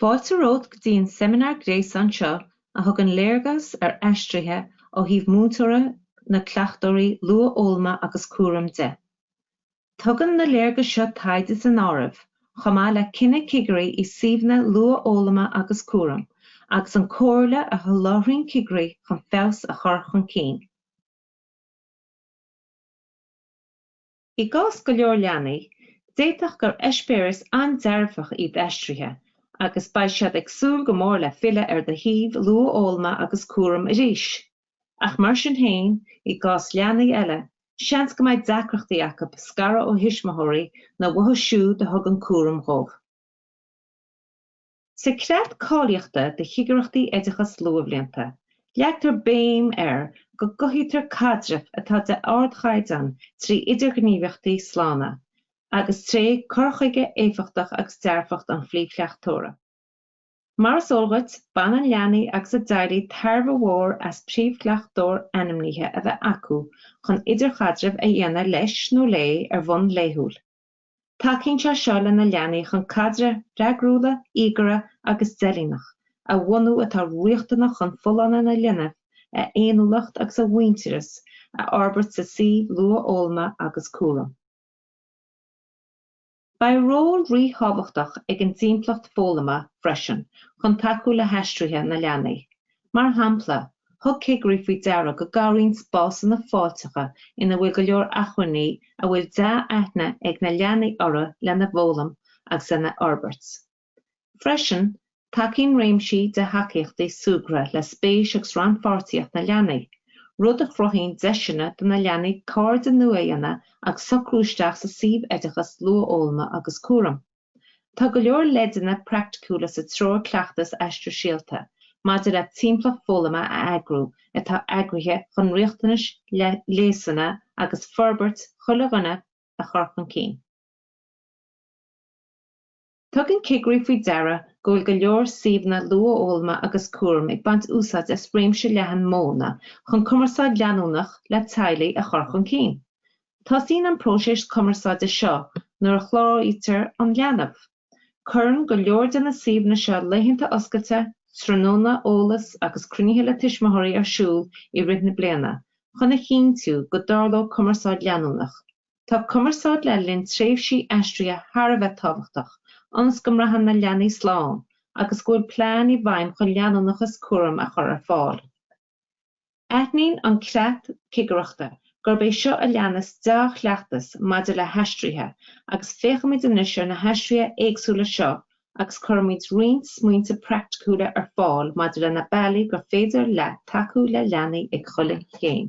Fáilte romhat go dtí an seimineár gréasáin seo a thugann léargas ar aistrithe ó thaobh múinteora na cleachtóirí luathfhoghlama agus cúraim de. Tugann na léargais seo taighde san áireamh, chomh maith le cinneadh cigirí i suíomhanna luathfhoghlama agus cúraim, agus an comhairle a sholáthraíonn cigirí chun feabhas a chur chun cinn. I gcás go leor leanaí, d'fhéadfadh gur eispéireas an-dearfach iad aistrithe agus beidh siad ag súil go mór le filleadh ar do shuíomh luathfhoghlama agus cúraim arís. Ach mar sin féin, i gcás leanaí eile, seans go mbeidh deacrachtaí acu scaradh ó thuismitheoirí nó uathu siúd a thugann cúram dhóibh. Sa Chreat Cáilíochta do Chigireachtaí Oideachas Luathbhlianta, leagtar béim air go gcothaítear caidrimh atá de ardchaighdeán trí idirghníomhaíochtaí slána agus tré cur chuige éifeachtach agus dearfacht an phríomhchleachtóra. Mar is eol dhuit, baineann leanaí agus a dteaghlaigh tairbhe mhór as príomhchleachtóir ainmnithe a bheith acu chun idirchaidreamh a dhéanamh leis nó léi ar bhonn laethúil. Tacaíonn sé seo le na leanaí chun caidrimh freagrúla, íogaire agus deilíneach a bhunú atá riachtanach chun folláine na linbh, a fhéiniúlacht agus a mhuintearas a fhorbairt sa suíomh luathfhoghlama agus cúraim. Beidh ról ríthábhachtach ag an dtimpeallacht foghlama freisin chun tacú le haistrithe na leanaí. Mar shampla, thug cigirí faoi deara go gcabhraíonn spásanna fáilteacha ina bhfuil go leor acmhainní a bhfuil dea-aithne ag na leanaí orthu lena bhfoghlaim agus lena fhorbairt. Freisin, tacaíonn réimsí de thacaíochtaí súgartha le spéis agus rannpháirtíocht na leanaí, rud a chruthaíonn deiseanna do na leanaí cairde nua a dhéanamh agus socrú isteach sa suíomh oideachas luathfhoghlama agus cúraim. Tá go leor leideanna praiticiúla sa Treoir Cleachtais Aistear Síolta maidir le timpeallacht foghlama a eagrú atá eagraithe chun riachtanais, leasanna agus forbairt chuile dhuine a chur chun cinn. Tugann cigirí faoi deara go bhfuil go leor suíomhanna luathfhoghlama agus cúraim ag baint úsáid as réimse leathan modhanna chun cumarsáid leanúnach le teaghlaigh a chur chun cinn. Tosaíonn an próiseas cumarsáide seo nuair a chláraítear an leanbh. Cuireann go leor de na suíomhanna seo laethanta oscailte, tráthnóna eolais agus cruinnithe le tuismitheoirí ar siúl i rith na bliana chun a chinntiú go dtarlóidh cumarsáid leanúnach. Tá cumarsáid le linn tréimhsí aistrithe thar a bheith tábhachtach ionas go mbraitheann na leanaí slán agus go bhfuil plean i bhfeidhm chun leanúnachas cúraim a chur ar fáil. Aithníonn an creat cigireachta gurb é seo a leanas deá-chleachtas maidir le haistrithe agus féachaimid anois ar na haistrithe éagsúla seo agus cuirfimid roinnt smaointe praiticiúla ar fáil maidir le na bealaí gur féidir leat tacú le leanaí ag chuile chéim.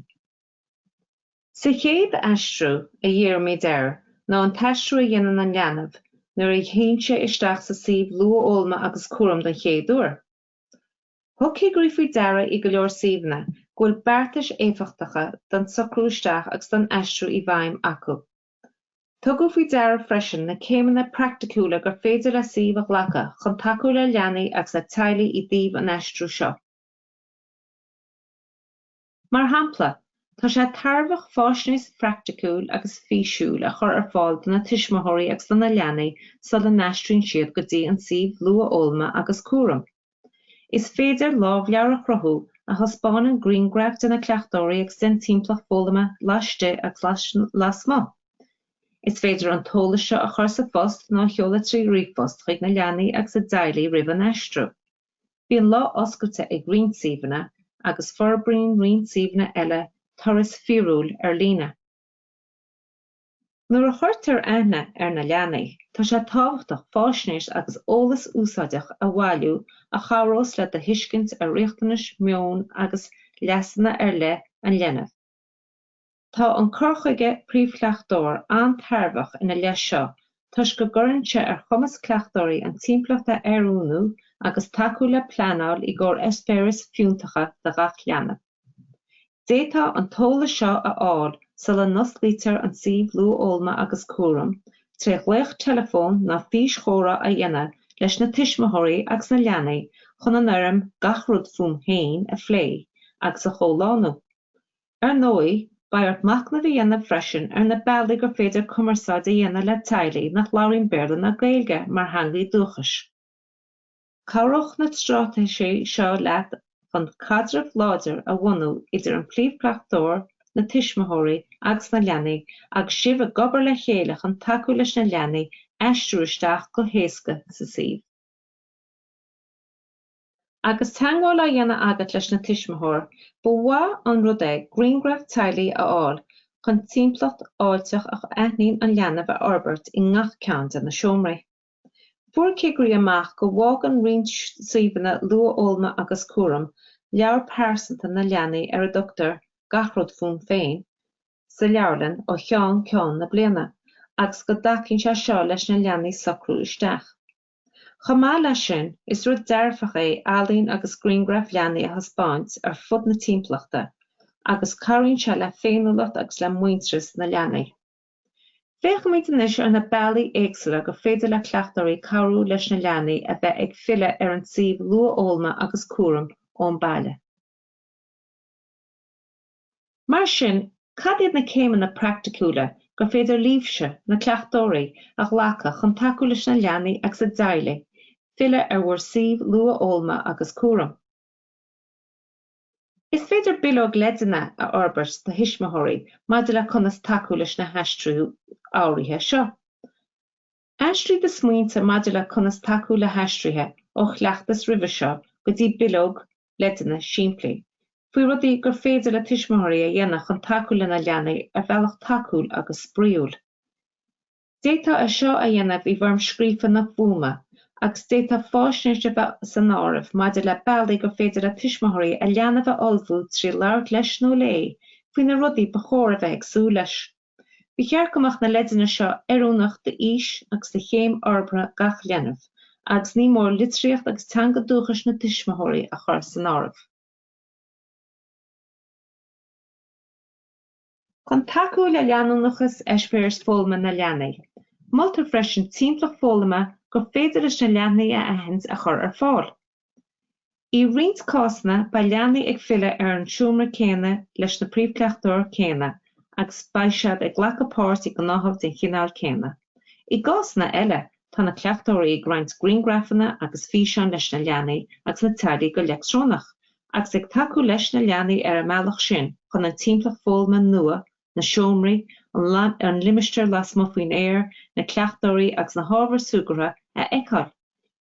Sa chéad aistriú a dhírímid air ná an t-aistriú a dhéanann an leanbh nuair a théann sé isteach sa suíomh luathfhoghlama agus cúraim don chéad uair. Thug cigirí faoi deara i go leor suíomhanna go bhfuil beartais éifeachtacha don socrú isteach agus don aistriú i bhfeidhm acu. Tugadh faoi deara freisin na céimeanna praiticiúla gur féidir le suímh a ghlacadh chun tacú le leanaí agus le teaghlaigh i dtaobh an aistriú seo. Mar shampla, tá sé tairbheach faisnéis praiticiúil agus físiúil a chur ar fáil do na tuismitheoirí agus do na leanaí sula n-aistríonn siad go dtí an suíomh luathfhoghlama agus cúraim. Is féidir lámhleabhar a chruthú a thaispeánann grianghraif de na cleachtóirí agus den timpeallacht foghlama laistigh agus lasmuigh. Is féidir an t-eolas seo a chur sa phost nó a sheoladh trí ríomhphost chuig na leanaí agus a dteaghlaigh roimh an aistriú. Bíonn lá oscailte ag roinnt suíomhanna agus forbraíonn roinnt suíomhanna eile turas fíorúil ar líne. Nuair a chuirtear aithne ar na leanaí, tá sé tábhachtach faisnéis agus eolas úsáideach a bhailiú a chabhrós le do thuiscint ar riachtanais, meon agus leasanna ar leith an linbh. Tá an cur chuige 'príomhchleachtóir' an-tairbheach ina leith seo toisc go gcuireann sé ar chumas cleachtóirí an timpeallacht a oiriúnú agus tacú le pleanáil i gcomhair eispéiris fiúntacha do gach leanbh. D'fhéadfá an t-eolas seo a fháil sula n-osclaítear an suíomh Luathfhoghlama agus Cúraim tré ghlaoch teileafóin ná físchomhrá a dhéanamh leis na tuismitheoirí agus na leanaí chun an fhoirm 'Gach Rud Fúm Féin' a phlé agus a chomhlánú. Ar ndóigh, beidh ort machnamh a dhéanamh freisin ar na bealaí gur féidir cumarsáid a dhéanamh le teaghlaigh nach labhraíonn Béarla ná Gaeilge mar theangaidh dúchais. Cabhróidh na straitéisí seo leat chun caidreamh láidir a bhunú idir an príomhchleachtóir, na tuismitheoirí agus na leanaí agus sibh ag obair le chéile chun tacú leis na leanaí aistriú isteach go héasca sa suíomh. Agus teagmháil á dhéanamh agat leis na tuismitheoir, ba mhaith an rud é grianghraf teaghlaigh a fháil chun timpeallacht fháilteach a aithníonn an leanbh a fhorbairt i ngach ceann de na seomraí. Fuair cigirí amach go bhfágann roinnt suíomhanna luathfhoghlama agus cúraim leabhar pearsanta na leanaí ar a dtugtar Gach Rud Fúm Féin sa leabharlann ó cheann ceann na bliana agus go dtacaíonn sé seo leis na leanaí socrú isteach. Chomh maith leis sin, is rud dearfach é ealaín agus grianghraif leanaí a thaispeáint ar fud na timpeallachta agus cabhraíonn sé le féiniúlacht agus le muintearas na leanaí. Féachfaimid anois ar na bealaí éagsúla gur féidir le cleachtóirí cabhrú leis na leanaí a bheith ag filleadh ar an tsuíomh luathfhoghlama agus cúraim ón baile. Mar sin, cad iad na céimeanna praiticiúla gur féidir libhse, na cleachtóirí, a ghlacadh chun tacú leis na leanaí agus a dteaghlaigh filleadh ar bhur suíomh luathfhoghlama agus cúraim? Is féidir bileog leideanna a fhorbairt do thuismitheoirí maidir le conas tacú leis na haistriú áirithe seo. Aistrigh do smaointe maidir le conas tacú le haistrithe ó chleachtas roimhe seo go dtí bileog leideanna simplí faoi rudaí gur féidir le tuismitheoirí a dhéanamh chun tacú lena leanaí ar bhealach tacúil agus spraíúil. D'fhéadfá é seo a dhéanamh i bhfoirm scríofa nó fuaime, agus d'fhéadfadh faisnéis a bheith san áireamh maidir le bealaí gur féidir le tuismitheoirí a leanbh a ullmhú trí labhairt leis nó léi faoi na rudaí ba chóir a bheith ag súil leis. Ba cheart go mbeadh na leideanna seo oiriúnach d'aois agus do chéim fhorbartha gach leanbh agus ní mór litríocht agus teanga dúchais na tuismitheoirí a chur san áireamh. Chun tacú le leanúnachas eispéiris foghlama na leanaí, moltar freisin timpeallacht foghlama gur féidir leis na leanaí a aithint a chur ar fáil. I roinnt cásanna beidh leanaí ag filleadh ar an seomra céanna leis na príomhchleachtóir céanna agus beidh siad ag glacadh páirt i ngnáthamh den chineál céanna. I gcásanna eile tá na cleachtóirí ag roinnt grianghrafanna agus físeáin leis na leanaí agus na teaghlaigh go leictreonach agus ag tacú leis na leanaí ar an mbealach sin chun an timpeallacht foghlama nua, na seomraí, an limistéar lasmuigh faoin aer, na cleachtóirí agus na hábhair súgartha a fheiceáil.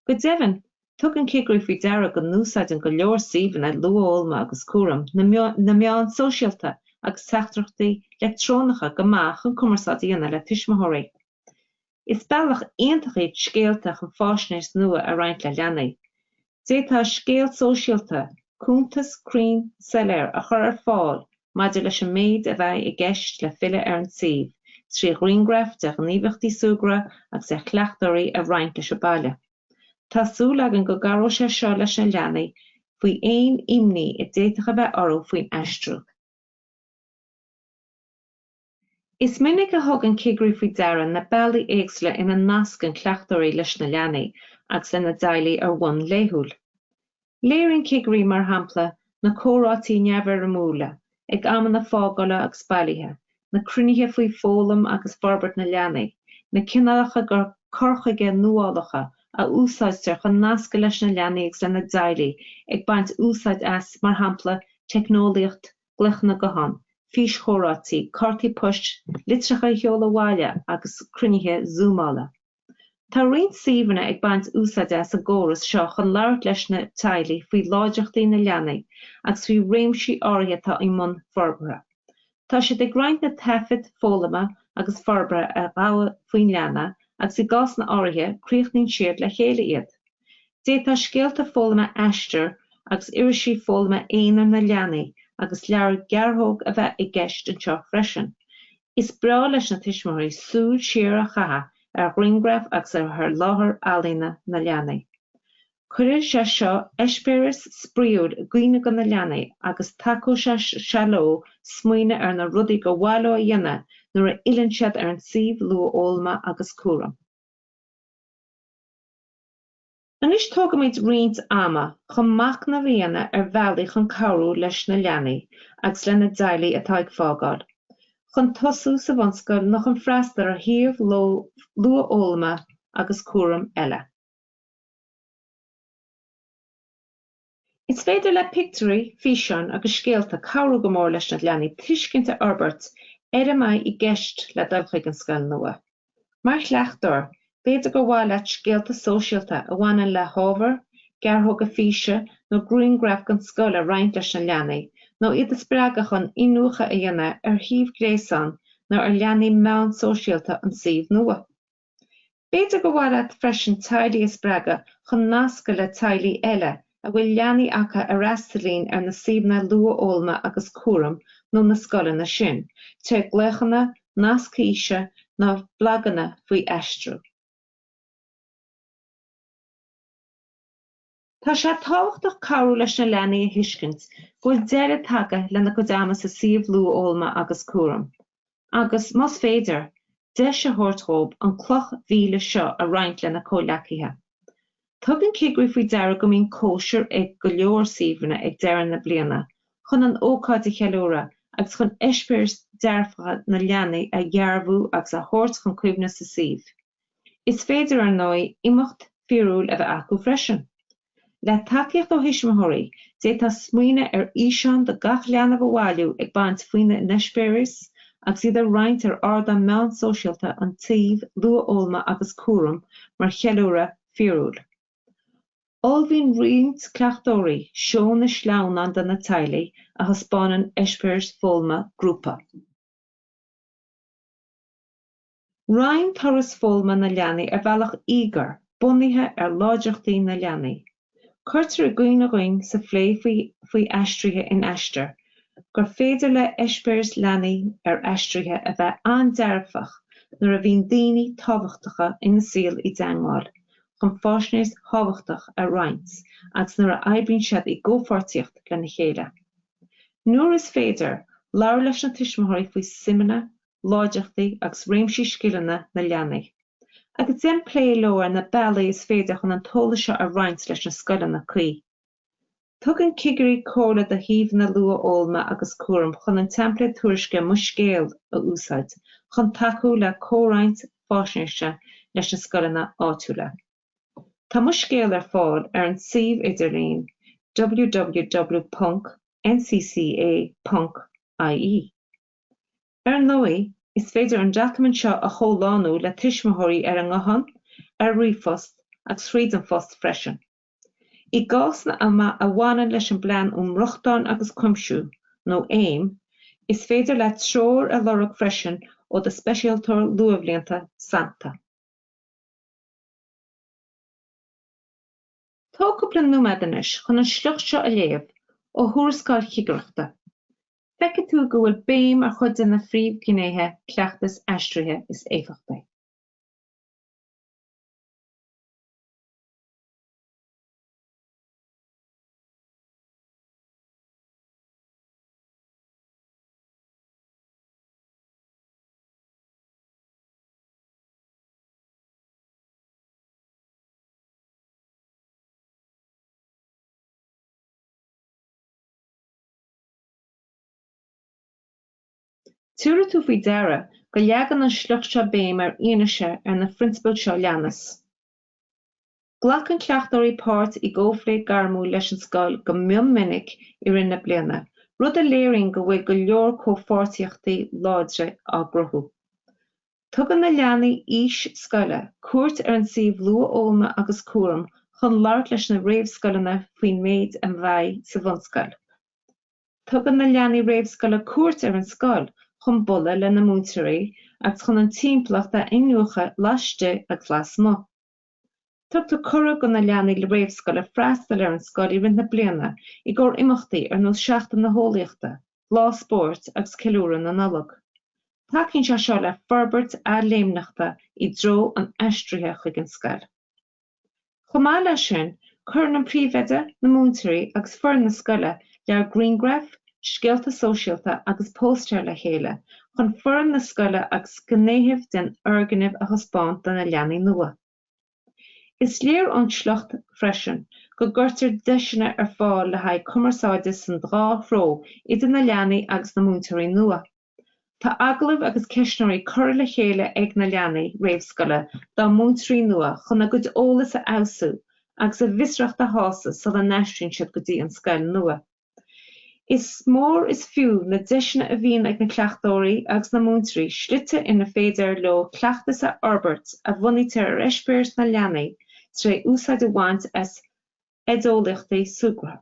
Go deimhin, tugann cigirí faoi deara go n-úsáideann go leor suíomhanna luathfhoghlama agus cúraim na meáin sóisialta agus teachtaireachtaí leictreonacha go maith chun cumarsáid a dhéanamh le tuismitheoirí. Is bealach iontach iad scéalta chun faisnéis nua a roinnt le leanaí. D'fhéadfá scéal sóisialta, cuntas cruinn soiléir a chur ar fáil maidir leis an méid a bheidh i gceist le filleadh ar an suíomh, trí ghrianghraif de ghníomhaíochtaí súgartha agus de chleachtóirí a roinnt leis an baile. Tá súil againn go gcabhróidh sé seo leis na leanaí faoi aon imní a d'fhéadfadh a bheith orthu faoin aistriú. Is minic a thugann cigirí faoi deara na bealaí éagsúla ina nascann cleachtóirí leis na leanaí agus lena dteaghlaigh ar bhonn laethúil. Léiríonn cigirí, mar shampla, na comhráití neamhfhoirmiúla, ag amanna fágála agus bailithe, na cruinnithe faoi foghlaim agus forbairt na leanaí, na cineálacha cur chuige nuálacha a úsáidtear chun nascadh leis na leanaí agus lena dteaghlaigh, ag baint úsáid as, mar shampla, teicneolaíocht na. glaochanna gutháin, físchomhráití, cártaí poist, litreacha a sheoladh abhaile agus cruinnithe zúmála. Tá roinnt suíomhanna ag baint úsáid as an gcóras seo chun labhairt leis na teaghlaigh faoi láidreachtaí na leanaí agus faoi réimsí áirithe atá i mbun forbartha. Tá siad ag roinnt na taifead foghlama agus forbartha a ghabhadh faoin leanbh agus i gcásanna áirithe críochnaíonn siad le chéile iad. D'fhéadfá scéalta foghlama Aistear agus irisí foghlama aonair na leanaí agus leabhair gearrthóg a bheith i gceist anseo freisin. Is breá leis na tuismitheoirí súil siar a chaitheamh ar ghrianghraif agus ar shaothar ealaíne na leanaí. Cuirfidh sé seo eispéiris spraíúla i gcuimhne do na leanaí agus tacóidh sé leo smaoineamh ar na rudaí gur mhaith leo a dhéanamh nuair a fhilleann siad ar an suíomh luathfhoghlama agus cúraim. Anois tógfaimid roinnt ama chun machnamh a dhéanamh ar bhealaí chun cabhrú leis na leanaí agus lena dteaghlaigh atá ag fágáil chun tosú sa bhunscoil nó chun freastal ar shuíomh luathfhoghlama agus cúraim eile. Is féidir le pictiúirí, físeáin agus scéalta cabhrú go mór leis na leanaí tuiscint a fhorbairt ar a mbeidh i gceist le dul chuig an scoil nua. Mar chleachtóir, b'fhéidir gur mhaith leat scéalta sóisialta a bhaineann le hábhar, gearrthóga físe nó grianghraif den scoil a roinnt leis na leanaí nó iad a spreagadh chun iniúchadh a dhéanamh ar shuíomh gréasáin nó ar leathanaigh meán shóisialta an tsuímh nua. B'fhéidir gur mhaith leat freisin teaghlaigh a spreagadh chun nascadh le teaghlaigh eile a bhfuil leanaí acu a fhreastalaíonn ar na suíomhanna luathfhoghlama agus cúraim nó na scoileanna sin, trí ghlaochanna, nasc físe, nó blaganna faoi aistriú. Tá sé tábhachtach cabhrú leis na leanaí a thuiscint go bhfuil deireadh tagtha lena gcuid ama sa suíomh luathfhoghlama agus cúraim agus, más féidir, deis a thabhairt dhóibh an cloch mhíle seo a roinnt lena comhleacaithe. Tugann cigirí faoi deara go mbíonn cóisir ag go leor suíomhanna ag deireadh na bliana chun an ócáid a cheiliúradh agus chun eispéiris dhearfacha na leanaí a dhearbhú agus a thabhairt chun cuimhne sa suíomh. Is féidir, ar ndóigh, imeacht fíorúil a bheith acu freisin. Le tacaíocht ó thuismitheoirí, d'fhéadfá smaoineadh ar fhíseán de gach leanbh a bhailiú ag caint faoina n-eispéiris agus iad a roinnt ar ardán meán sóisialta an tsuímh luathfhoghlama agus cúraim mar cheiliúradh fíorúil. Ullmhaíonn roinnt cleachtóirí seónna sleamhnán do na teaghlaigh a thaispeánann eispéiris foghlama grúpa. Roinn turas foghlama na leanaí ar bhealach íogair, bunaithe ar láidreachtaí na leanaí. Cuirtear i gcuimhne dhúinn sa phlé faoi aistrithe in Aistear gur féidir le eispéiris leanaí ar aistrithe a bheith an-dearfach nuair a bhíonn daoine tábhachtacha ina saol i dteagmháil chun faisnéis thábhachtach a roinnt agus nuair a oibríonn siad i gcomhpháirtíocht lena chéile. Nuair is féidir, labhair leis na tuismitheoirí faoi suimeanna agus láidreachtaí agus réimsí scileanna na leanaí, agus déan plé leo ar na bealaí is féidir chun an t-eolas seo a roinnt leis na scoileanna cuí. Tugann cigirí comhairle do shuíomhanna luathfhoghlama agus cúraim chun an teimpléad tuairisce 'Mo Scéal' a úsáid chun tacú le comhroinnt faisnéise leis na scoileanna áitiúla. Tá 'Mo Scéal' ar fáil ar an suíomh idirlín www.ncca.ie. Ar ndóigh, is féidir an doiciméad seo a chomhlánú le tuismitheoirí ar an nguthán, ar ríomhphost agus thríd an phost freisin. I gcásanna a bhaineann leis an bPlean um Rochtain agus Cuimsiú, nó AIM, is féidir leat treoir a lorg freisin ó do Speisialtóir Luathbhlianta sannta. Tá cúpla nóiméad anois chun an sliocht seo a léamh ó Thuarascáil Chigireachta. Feicfidh tú go bhfuil béim ar chuid de na príomhghnéithe cleachtais aistrithe is éifeachtaí. Tabharfaidh tú faoi deara go leagann an sliocht seo béim ar fhianaise ar na phrionsabail seo leanas. Glacann cleachtóirí páirt i gcomhphlé gairmiúil leis an scoil go mion minic i rith na bliana, rud a léiríonn go bhfuil go leor comhpháirtíochtaí láidre á gcruthú. Tugann na leanaí aois scoile cuairt ar an suíomh Luathfhoghlama agus Cúraim chun labhairt leis na réamhscoileanna faoin méid a bheidh sa bhunscoil. Tugann na leanaí réamhscoile cuairt ar an scoil chun bualadh lena múinteoirí agus chun an timpeallacht a iniúchadh laistigh agus lasmuigh. Tugtar cuireadh do na leanaí réamhscoile freastal ar an scoil i rith na bliana i gcomhair imeachtaí ar nós Seachtain na hEolaíochta, Lá Spóirt agus Ceiliúradh na Nollag. Tacaíonn sé seo le forbairt athléimneachta i dtreo an aistrithe chuig an scoil. Chomh maith leis sin, cuireann an príomhoide, na múinteoirí agus foireann na scoile lear grianghraf, scéalta sóisialta agus póstaeir le chéile chun foireann na scoile agus gnéithe den fhoirgneamh a thaispeáint do na leanaí nua. Is léir ón tsliocht freisin go gcuirtear deiseanna ar fáil le haghaidh cumarsáide san dhá threo idir na leanaí agus na múinteoirí nua. Tá agallaimh agus ceistneoirí curtha le chéile ag na leanaí réamhscoile dá múinteoirí nua chun a gcuid eolas a fheabhsú agus a bhfiosracht a shásamh sula n-aistríonn siad go dtí an scoil nua. Is mór is fiú na deiseanna a bhíonn ag na cleachtóirí agus na múinteoirí slite ina féidir leo cleachtas a fhorbairt a bhunaítear ar eispéiris na leanaí tré úsáid a bhaint as oideolaíochtaí súgartha.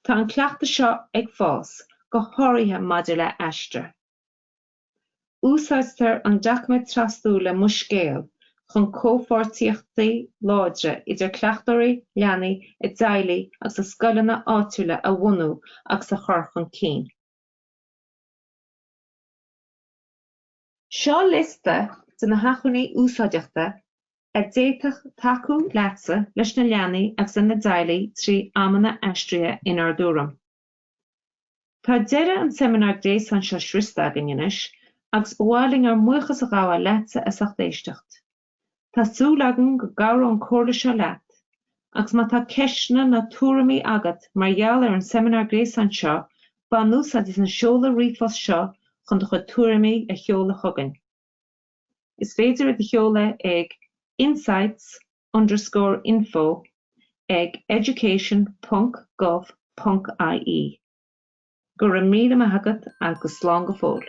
Tá an cleachtas seo ag fás, go háirithe maidir le Aistear. Úsáidtear an doiciméad trasdula Mo Scéal chun comhpháirtíochtaí láidre idir cleachtóirí, leanaí, a dteaghlaigh agus a scoileanna áitiúla a bhunú agus a chur chun cinn. Seo liosta de na hacmhainní úsáideachta a d'fhéadfadh tacú leatsa, leis na leanaí agus lena dteaghlaigh trí amanna aistrithe inár dtuairim. Tá deireadh an seimineár gréasáin seo sroiste againn anois agus ba mhaith linn ár mbuíochas a ghabháil leatsa as ucht éisteacht. Tá súil againn go gcabhróidh an comhairle seo leat agus má tá ceisteanna nó tuairimí agat mar gheall ar an seimineár gréasáin seo bain úsáid as an seoladh ríomhphoist seo chun do chuid tuairimí a sheoladh chugainn. Is féidir iad a sheoladh ag insights at. underscore info ag education ponc gov ponc ie. Go raibh míle maith agat agus slán go fóill.